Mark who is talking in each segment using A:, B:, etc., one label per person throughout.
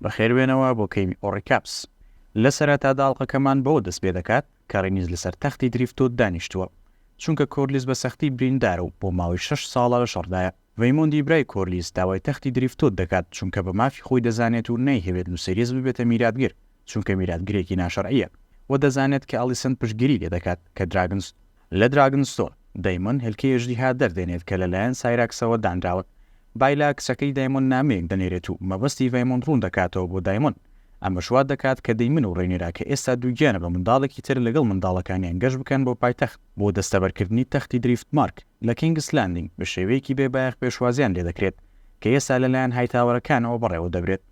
A: بەخێربێنەوە بۆ کەینی ئۆڕیکاپس. لە سەرەتادا ئەڵقەکەمان بەوە دەست پێ دەکات کە ڕینیس لەسەر تەختی دریفتۆد دانیشتووە، چونکە کۆرلیس بە سەختی بریندارە و بۆ ماوەی شەش ساڵە لە شەڕدایە. ڤەیمۆندی برای کۆرلیس داوای تەختی دریفتۆد دەکات، چونکە بە مافی خۆی دەزانێت و نایهەوێت لوسێریس ببێتە میراتگر، چونکە میراتگرێکی ناشەرعییە و دەزانێت کە ئەڵیسەند پشتگیری لێ دەکات کە دراگنس لە دراگنستۆن، دەیمۆن هێلکەی ئەژدیها دەردێنێت کە لەلایەن سایراکسەوە دانراون. بایلا کچەکەی دایمۆن نامەیەک دەنێرێت و مەبەستی ڤەیمۆن ڕوون دەکاتەوە بۆ دایمۆن. ئەمەش وا دەکات کە دەیمن و ڕێنێرا کە ئێستا دووگیانە بە منداڵێکی تر لەگەڵ منداڵەکانیان گەشت بکەن بۆ پایتەخت بۆ دەستەبەرکردنی تەختی دریفتمارک لە کینگس لاندینگ بە شێوەیەکی بێ بایەخ پێشوازیان لێدەکرێت کە ئێستا لەلایەن هایتاوەرەکانەوە بەڕێوەدەبرێت.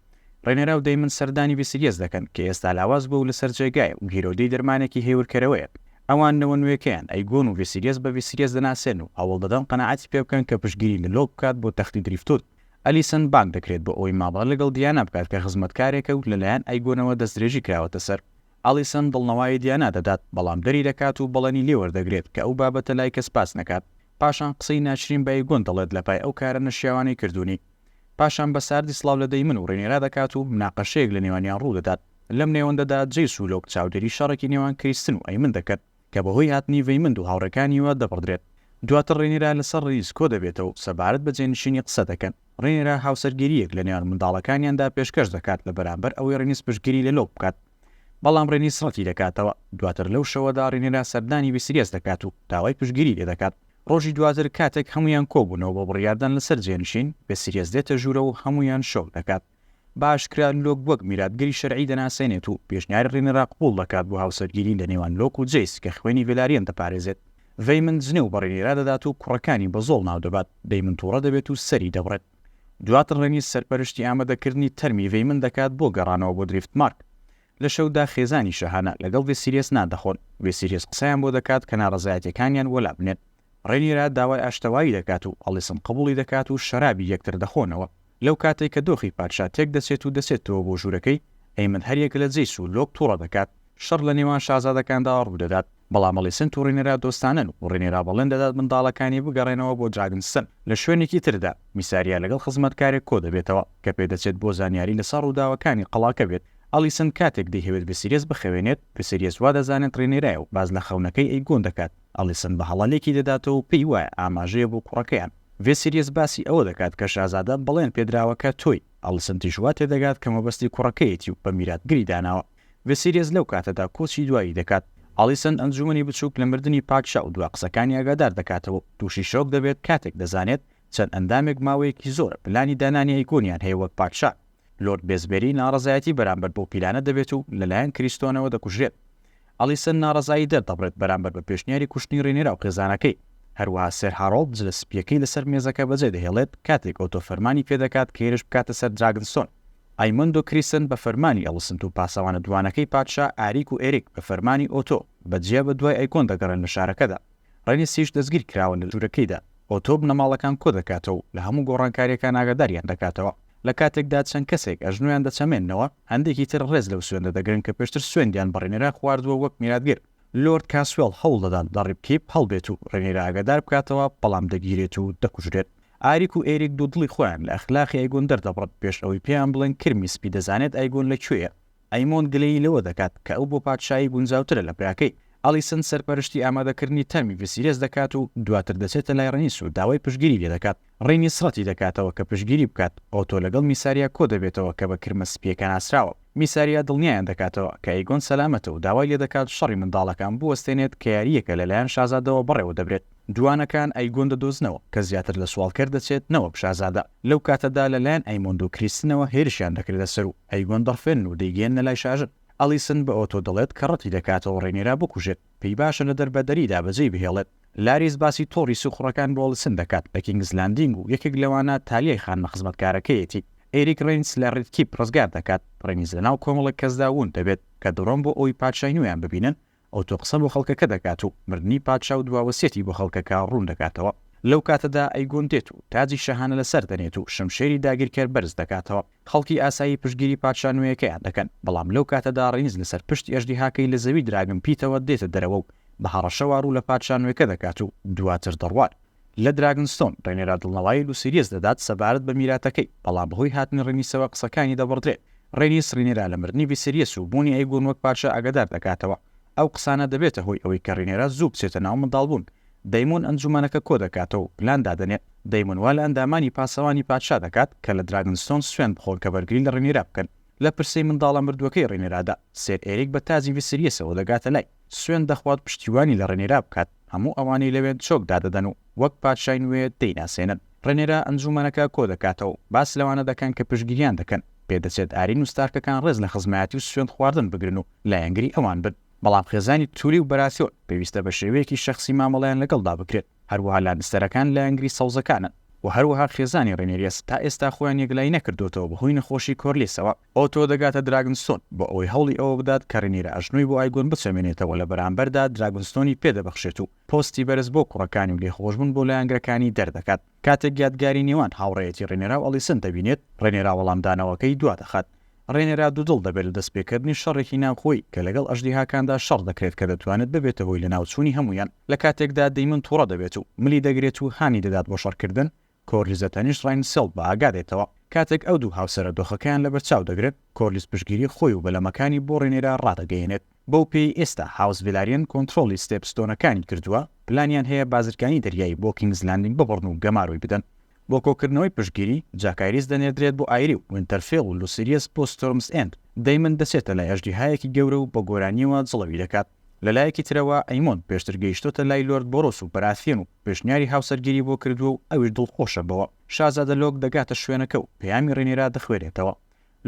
A: ڕێنێرا و دەیمن سەردانی ڤیسیلیەس دەکەن کە ئێستا لاواز بووە و لەسەر جێگایە و گیرۆدەی دەرمانێکی هێورکەرەوەیە. ئەوان نەوە نوێکەیان، ئەیگۆن و ڤیسیلیەس بە ڤیسیلیەس دەناسێن و هەوڵدەدەن قەناعەتی پێ بکەن کە پشتگیری لە لۆک بکات بۆ تەختی دریفتود. ئەلیسن بانگ دەکرێت بۆ ئەوەی مامەڵە لەگەڵ دیانا بکات کە خزمەتکارێکە و لەلایەن ئەیگۆنەوە دەستدرێژی کراوەتە سەر. ئەلیسن دڵنەوایی دیانا دەدات، بەڵام دەری دەکات و بەڵێنی لێ وەردەگرێت کە ئەو بابەتە لای کەس باس نەکات. پاشان قسەی ناشرین بە ئەیگۆن دەڵێت لە پای ئەو کارە نەشیاوانەی کردوونی. پاشان بە ساردی سڵاو لە دەیمن و ڕینێرا دەکات و مناقەشەیەک لە نێوانیان ڕوو دەدات. لەم نێوەندەدا جەیس و لۆک چاودێری شەڕێکی نێوان کریستن و ئەیمن دەکەن کە بە هۆی هاتنی ڤەیمند و هاوڕێکانییەوە دەبڕدرێت. دواتر ڕینێرا لەسەر ڕیز کۆ دەبێتەوە و سەبارەت بە جێنشینی قسە دەکەن. ڕینێرا هاوسەرگیرییەک لە نێوان منداڵەکانیاندا پێشکەش دەکات لە بەرامبەر ئەوەی ڕینیس پشتگیری لە لۆک بکات، بەڵام ڕینیس ڕەتی دەکاتەوە. دواتر لەو شەوەدا ڕینێرا سەردانی ڤیسریەس دەکات و داوای پشتگیری لێ دەکات. ڕۆژی دواتر کاتێک هەموویان کۆبوونەوە بۆ بڕیاردان لەسەر جێنشین، بێسیریەس دێتە ژوورەوە و هەموویان شۆک دەکات. بە ئاشکرا لۆک وەک میراتگری شەرعی دەناسێنێت و پێشنیاری ڕینێرا قبوڵ دەکات بۆ هاوسەرگیری لە نێوان لۆک و جەیس کە خوێنی ڤێلاریەن دەپارێزێت. ڤەیمن جنێو بە ڕینێرا دەدات و کوڕەکانی بە زۆڵ ناو دەبات، ڤەیمن تووڕە دەبێت و سەری دەبڕێت. دواتر ڕێنیر سەرپەرشتی ئامادەکردنی تەرمی ڤەیمن دەکات بۆ گەڕانەوە بۆ دریفتمارک. لە شەودا خێزانی شاهانە لەگەڵ ڤێسیریەس نان دەخۆن، ڤێسیریەس قسەیان بۆ دەکات کە ناڕەزایەتیەکانیان بۆ لابنێن، ڕێنیرا داوای ئاشتەوایی دەکات و ئەڵیسن قبوڵی دەکات و شەرابی یەکتر دەخۆنەوە، لەو کاتەی کە دۆخی پادشا تێک دەچێت و دەچێتەوە بۆ ژورەکەی، ئەیمن هەریەک لە جەیس و لۆب توڕە دەکات، شەڕ لە نێوان شازادەکاندا ڕوودەدات، بەڵام ئەلیسنت و ڕینێرا دۆستانن و ڕینێرا بەڵێن دەدات منداڵەکانی بگەڕێنەوە بۆ دراگنستن لە شوێنێکی تردا، میساریا لەگەڵ خزمەتکارێک کۆدەبێتەوە کە پێدەچێت بۆ زانیاری لەسەر ڕووداوەکانی قەڵاکە بێت، ئەلیسنت کاتێک دەیهەوێت ڤسیریەس بخەوێنێت، ڤسیریەس وادەزانێت ڕینێرایە و باس لە خەونەکەی ئەیگۆن دەکات، ئەلیسنت بە هەڵە لێکی دەداتەوە و پێی وایە ئاماژەیە بۆ کوڕەکەیان، ڤسیریەس باسی ئەوە دەکات کە شازادە بەڵێن پێدراوەکە تۆی، ئەلیسنتیش واتێدەگات کە مەبەستی کوڕەکەیەتی و بە میراتگری داناوە. ڤیسیریەس لەو کاتەدا کۆچی دوایی دەکات. ئالیسن ئەنجوومەنی بچووک لە مردنی پادشا و دوا قسەکانی ئاگادار دەکاتەوە و تووشی شۆک دەبێت کاتێک دەزانێت چەند ئەندامێک ماوەیەکی زۆرە پلانی دانانی ئەیگۆنیان هەیە وەک پادشا. لۆرد بێزبێری ناڕەزایەتی بەرامبەر بەو پیلانە دەبێت و لەلایەن کریستۆنەوە دەکوژرێت. ئالیسن ناڕەزایی دەردەبڕێت بەرامبەر بە پێشنیاری کوشتنی ڕینێرا و خێزانەکەی. هەروەها سێر هارۆڵد جلە سپییەکەی لەسەر مێزەکە بەجێدەهێڵێت کاتێک ئۆتۆ فەرمانی پێدەکات کێرش بکاتە سەر دراگنستۆن. ئایمۆندۆ کریسن بە فەرمانی ئەڵسنت و پاسەوانە دووانەکەی پادشا ئاریک و ئێریک بە فەرمانی ئۆتۆ بە جیا بە دوای ئەیکۆن دەگەڕێن لە شارەکەدا. ڕێنیسیش دەستگیر کراوە لە ژوورەکەیدا. ئۆتۆ بنەماڵەکان کۆ دەکاتەوە و لە هەموو گۆڕانکارییەکان ئاگاداریان دەکاتەوە. لە کاتێکدا چەند کەسێک ئەژنۆیان دەچەمێننەوە، هەندێکی تر ڕێز لەو سوێندە دەگرن کە پێشتر سوێندیان بە ڕێنیرا خواردووە وەک میراتگر. لۆرد کاسوێڵ هەوڵ دەدات لە ڕیپکیپ هەڵبێت و ڕێنیرا ئاگادار بکاتەوە، بەڵام دەگیرێت و دەکوژرێت. ئاریک و ئێریک دوودڵی خۆیان لە ئەخلاقی ئەیگۆن دەردەبڕن پێش ئەوەی پێیان بڵێن کرمی سپی دەزانێت ئەیگۆن لە کوێیە. ئەیمۆند گلەیی لەوە دەکات کە ئەو بۆ پادشایی گونجاوترە لە براکەی. ئەلیسن سەرپەرشتی ئامادەکردنی تەرمی ڤیسیرێس دەکات و دواتر دەچێتە لای ڕینیس و داوای پشتگیری لێ دەکات. ڕینیس ڕەتی دەکاتەوە کە پشتگیری بکات. ئۆتۆ لەگەڵ میساریا کۆ دەبێتەوە کە بە کرمە سپییەکە ناسراوە. میساریا دڵنیایان دەکاتەوە کە ئەیگۆن سەلامەتە و داوای لێ دەکات شەڕی منداڵەکان بوەستێنێت کە یارییەکە لەلایەن شازادەوە بەڕێوە دەبرێت. دووانەکان ئەیگۆن دەدۆزنەوە، کە زیاتر لە سواڵکەر دەچێت نەوەک شازادە. لەو کاتەدا لە لایەن ئەیمۆند و کریستنەوە هێرشیان دەکرێتە سەر و ئەیگۆن دەڕفێنن و دەیگەیەننە لای شاژن. ئەلیسن بە ئۆتۆ دەڵێت کە ڕەتی دەکاتەوە ڕێنیرا بکوژێت، پێی باشە لە دەربەدەریدا بەجێی بهێڵێت. لاریس باسی تۆڕی سیخوڕەکان بۆ ئەلیسن دەکات لە کینگس لاندینگ و یەکێک لەوانە تالیای خانمە خزمەتکارەکەیەتی. ئێریک ڕینس لە ڕیدکیپ ڕزگار دەکات. ڕینیس لەناو کۆمەڵێک کەسدا وون دەبێت کە دڕۆن بۆ ئەوەی پادشای نوێیان ببینن ئەو تۆ قسە بۆ خەڵکەکە دەکات و مردنی پادشا و دوا وەسیەتی بۆ خەڵکەکە ڕوون دەکاتەوە. لەو کاتەدا ئەیگۆن دێت و تاجی شاهانە لەسەر دەنێت و شمشێری داگیرکەر بەرز دەکاتەوە. خەڵکی ئاسایی پشتگیری پادشا نوێیەکەیان دەکەن، بەڵام لەو کاتەدا ڕینز لەسەر پشتی ئەژدیهاکەی لە زەوی دراگن پیتەوە دێتە دەرەوە و بە هەڕەشەوە ڕوو لە پادشا نوێکە دەکات و دواتر دەڕوات. لە دراگنستۆن ڕێنێرا دڵنەوایل و سیریەس دەدات سەبارەت بە میراتەکەی، بەڵام بەهۆی هاتنی ڕینیسەوە قسەکانی دەبڕدرێت، ڕێنیس ڕینێرا لە مردنی ڤیسێریەس و بوونی ئەیگۆن وەک پادشا ئاگادار دەکاتەوە، ئەو قسانە دەبێتە هۆی ئەوەی کە ڕینێرا زوو بچێتە ناو منداڵبوون، دەیمۆن ئەنجومەنەکە کۆدەکاتەوە و پلان دادەنێت، دەیمۆن وا لە ئەندامانی پاسەوانی پادشا دەکات کە لە دراگنستۆن سوێند بخۆن کە بەرگری لە ڕێنێرا بکەن، لە پرسەی منداڵە مردووەکەی ڕێنێرادا سێر ئێریک بە تاجی ڤیسریەسەوە دەگاتە لای، سوێند دەخوات پشتیوانی لە ڕێنێرا بکات. هەموو ئەوانەی لەوێ چۆک دادەدەن و وەک پادشای نوێ دەیناسێنن. ڕێنێرە ئەنجوومەنەکە کۆدەکاتەوە و باس لەوانە دەکەن کە پشتگیریان دەکەن، پێدەچێت ئارین و ستارکەکان ڕێز لە خزمایەتی و سوێند خواردن بگرن و لایەنگری ئەوان بن، بەڵام خێزانی تولی و بەراسیۆن پێویستە بە شێوەیەکی شەخسی مامەڵەیان لەگەڵدا بکرێت، هەروەها لانستەرەکان لایەنگری سەوزەکانن و هەروەها خێزانی ڕێنێریەس تا ئێستا خۆیان یەکلایی نەکردووەتەوە بەهۆی نەخۆشی کۆرلیسەوە. ئۆتۆ دەگاتە دراگنستۆن بۆ ئەوەی هەوڵی ئەوە بدات کە رینیرا ئەژنۆی بۆ ئایگۆن بچەمێنێتەوە لە بەرامبەردا دراگنستۆنی پێ دەبەخشێت و پۆستی بەرز بۆ کوڕەکانی و لێخۆشبوون بۆ لایەنگرەکانی دەردەکات کاتێک یادگاری نێوان هاوڕێیەتی رینێرا و ئەلیسن دەبینێت رێنێرا وەڵامدانەوەکەی دوا دەخات رێنێرا دوودڵ دەبێت لە دەستپێکردنی شەڕێکی ناوخۆیی کە لەگەڵ ئەژدیهاکاندا شەڕ دەکرێت کە دەتوانێت ببێتە هۆی لەناوچوونی هەموویان لە کاتێکدا دەیمن توڕە دەبێت و ملی دەگرێت و هانی دەدات بۆ شەڕکردن کۆرلیزە تەنیشت ڕاینسێڵد بە ئاگا دێتەوە. کاتێک ئەو دوو هاوسەرە دۆخەکەیان لەبەرچاو دەگرێت، کۆرلیز پشتگیری خۆی و بەلەمەکانی بۆ ڕێنێرا ڕادەگەیەنێت. بەو پێیەی ئێستا هاوس ڤیلاریەن کۆنترۆڵی ستێپ ستۆنەکانی کردووە، پلانیان هەیە بازرگانی دەریایی بۆ کینگز لاندینگ ببڕن و گەمارۆی بدەن. بۆ کۆکردنەوەی پشتگیری، جاکایریس دەنێردرێت بۆ ئایری و وینتەرفێڵ و لوسیریەس بۆ ستۆرمز ئێند. دەیمن دەچێتە لای ئەژدیهایەکی گەورە و بە گۆرانییەوە جڵەوی دەکات. لە لایەکی ترەوە ئەیمۆن پێشتر گەیشتۆتە لای لۆرد بۆرۆس و بەراسیۆن و پێشنیاری هاوسەرگیری بۆ کردووە و ئەویش دڵخۆشە بەوە. شازادە لۆک دەگاتە شوێنەکە و پەیامی رینیرا دەخوێنێتەوە.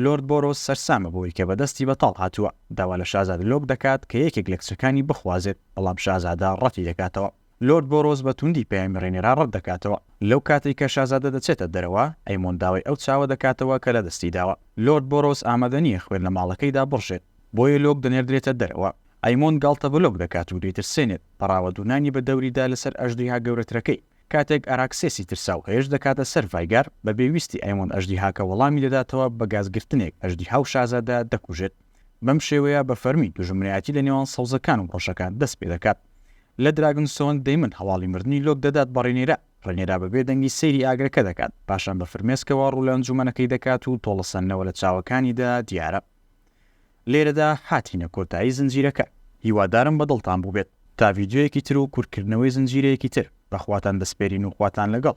A: لۆرد بۆرۆس سەرسامە بەوەی کە بە دەستی بەتاڵ هاتووە. داوا لە شازادە لۆک دەکات کە یەکێک لە کچەکانی بخوازێت، بەڵام شازادە رەتی دەکاتەوە. لۆرد بۆرۆس بە توندی پەیامی ڕێنێرا ڕەت دەکاتەوە. لەو کاتەی کە شازادە دەچێتە دەرەوە، ئەیمۆند داوای ئەو چاوە دەکاتەوە کە لە دەستی داوە. لۆرد بۆرۆس ئامادە نییە خوێن لە ماڵەکەی دابڕژێت، بۆیە لۆک دەنێردرێتە دەرەوە. ئەیمۆند گاڵتە بە لۆک دەکات و دەیترسێنێت، پەڕاوە دوونانی بە دەوریدا لەسەر ئەژدیها گەورەترەکەی. کاتێک ئاراکسێسی ترساو هێرش دەکاتە سەر ڤایگار، بەبێ ویستی ئەیمۆند ئەژدیهاکە وەڵامی دەداتەوە بە گاز گرتنێک، ئەژدیها و شازادە دەکوژێت. بەم شێوەیە بە فەرمی دوژمنایەتی لە نێوان سەوزەکان و ڕەشەکان دەست پێ دەکات. لە دراگن سۆنگ دەیمن هەواڵی مردنی لۆک دەدات بە ڕێنێرا، ڕێنێرا بە بێ دەنگی سەیری ئاگرەکە دەکات، پاشان بە فرمێسکەوە ڕوو لە ئەنجوومەنەکەی دەکات و تۆڵە سەندنەوە لە چاوەکانیدا دیارە. لێرەدا هاتینە کۆتایی زنجیرەکە. هیوادارم بە دڵتان بووبێت. تا ڤیدیۆیەکی تر و کورتکردنەوەی زنجیرەیەکی تر، بە خواتان دەسپێرین و خواتان لەگەڵ.